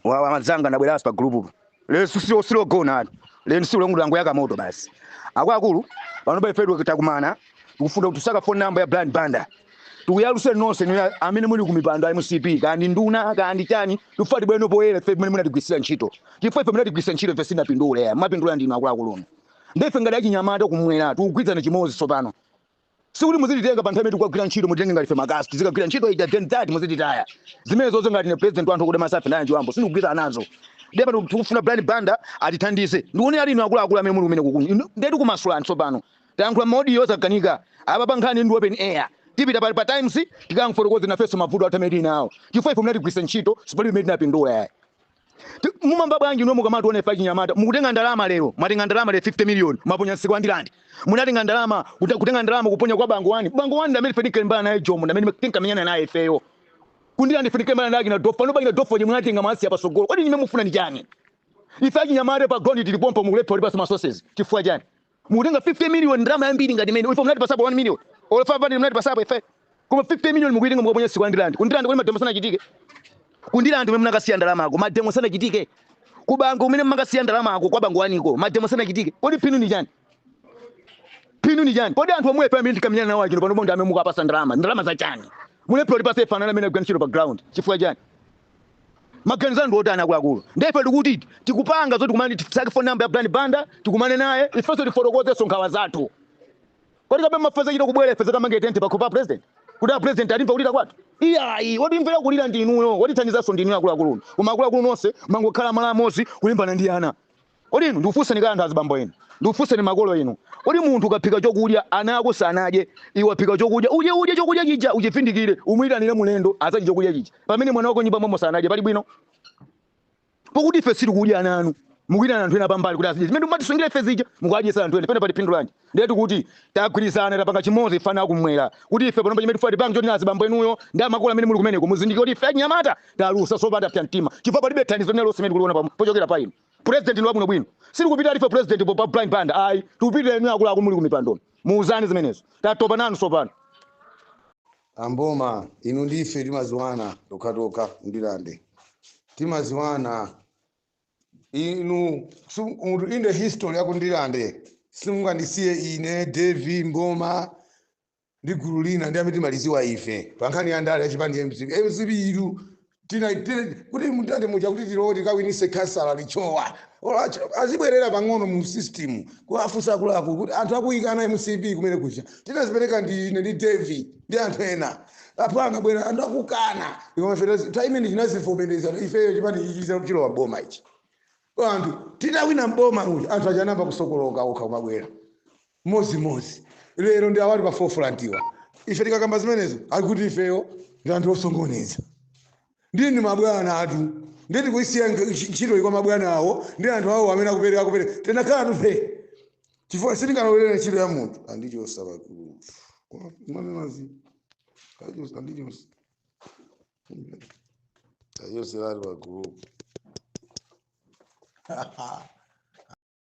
wawa amanzanga ndabweraso pa gulupupo lero silo silogona ayi lero silo longo langoyaka moto basi akuluakulu panopa ife titakumana tikufuna kuti tisake phone number ya Brian Banda tikuyaluse nonse inu amene muli kumipando ya MCP kaya ndi nduna kaya ndi chani tifuna tibwere poyera ife mmene munatigwiritsira ntchito chifukwa ife munatigwiritsa ntchito ife sitinapindule ayi amapindula ndinu akuluakulu inu nde ife ngati achinyamata kumwera tikugwirizana chimodzi tsopano Sikuti muzititenga pa nthawi imene tikukagwira ntchito, mutitenge ngati ife makasu. Tizikagwira ntchito ija then that muzititaya. Zimenezozo ngati ine president wa anthu okuda masafe naye Anjiwambo sindikugwirizana nazo. Ndiye pano tikufuna Brian Banda atithandize. Ndikuoneratu inu akuluakulu amene muli kumeneko inu. Inu ndiye tikumasulani tsopano. Tayankhula m'maodiyo zakanika. Apapa nkhani ndi open air. Tipita pa, pa Times tikamfotokoze nafenso mavuto athu amene tili nawo. Chifukwa ife munatigwiritsa ntchito, sipalibe imene tinapindula yayi. mumamva bwanji inu mukamationa ife achinyamata mukutenga ndalama lero mwatenga ndalama lero 50 million mwaponya msika wa ndirande munatenga ndalama kuta- kutenga ndalama kuponya kwa bangwe wani bangwe wani ndamene ife tinkalimbana naye jomo ndamene tinkamenyana naye ifeyo kundirande ife tinkalimbana naye akina dofa noba akina dofa chimwe munatenga masi ya pasogolo kodi chimene mufuna ni chani ife achinyamata pa ground tili pompa mukulephera kutipasa ma sources chifukwa chani Mukutenga 50 million ndalama yambiri ngati imeneyo. Ife munatipasapo 1 million. Olo 500 munatipasapo ife. Koma 50 million mukuitenga mukaponya msika wa Ndilande. Kundilande kuli mademo sanachitike. Kundilande kumene munakasiya ndalamako mademo sanachitike. Kubangwe kumene mmakasiya ndalamako kwa Bangwe waniko mademo sanachitike. Kodi phindu ni chani? Phindu ni chani? Kodi anthu omwe ife amene tinkamenyana nawo achina pano bonde amene mukapasa ndalama. Ndalama za chani? Mulephera kutipasa ife ana anu amene tagwira ntchito pa ground. Chifukwa chani? maganizo anu ndi otani akuluakulu nde ife tikuti tikupanga zoti tikumane ndi tisake phone number ya brian banda tikumane naye ifenso tifotokozenso nkhawa zathu kodi kapena mufuna tichite kubwera ife tizakamange tenti pakhomo pa president kuti a president atimve kulira kwathu iyayi wotimvera kulira ndi inuyo wotithandizanso ndi inuyo akuluakulu koma akuluakulu nonse mwangokhala malo amodzi kulimbana ndi ana Kodi inu, ndikufunseni kaye anthu azibambo inu, ndikufunseni makolo inu, kodi munthu ukaphika chokudya ana ako sanadye, iwe waphika chokudya udye udye chokudya chija uchivindikire umuitanire mulendo azadye chokudya chija pamene mwana wako m'nyumba momo sanadye pali bwino? Pokuti ife sitikudya ana anu mukuitana anthu ena pambali kuti azidye zimene mumatisungira ife zija mukuadyesa anthu ena pena pali phindu lanji? Ndiye tikuti tagwirizana tapanga chimodzi ife ana akumwera kuti ife panopa chimene tifuna tipange choti azibambo inuyo ndi amakolo amene muli kumeneko muzindikire kuti ife achinyamata talusa tsopano tapsa mtima chifukwa palibe thandizo lina lonse limene tikuliona pochokera pa inu. President ndi wabwinobwino sitikupitira life president pa Brian Banda ayi tikupitira inu akuluakulu muli kumipandonu muuzane zimenezo tatopa nanu tsopano. Amboma inu ndi ife timaziwana tokhatokha Ndilande timaziwana inu in the history yaku Ndilande simungandisiye ine Davie Mboma ndi gulu lina ndi amene timaliziwa ife pa nkhani ya ndale ya chipani cha mcp mcp itu tina tina- kuti mutati muja kuti tilowe tikawinise khansala Lichowa olo acho- azibwerera pang'ono mu system kuwafunsa akuluakulu kuti anthu akuyikana mcp kumene kuja tinazipereka ndi ine ndi david ndi anthu ena apo anabwera anthu akukana Koma ife tazi- ta imene tinazivomereza ifeyo chipani ichi chiza- chilowa boma ichi anthu titawina mboma uyu anthu achanamba kusokoloka okha kumabwera modzi modzi lero ndi awali pa forefront-wa ife tikakamba zimenezo akuti ifeyo ndi anthu osokoneza ndiye ndi mabwana atu ndiye tikuisiya nk- ntch- ntchitoyi kwa mabwana awo ndi anthu awo amene akupereka akupereka tinakhala tu ife chifukwa sitingalolere ntchito ya munthu andichosa pakulu mwanenazi kachosa andichosa kachoseratu pakulu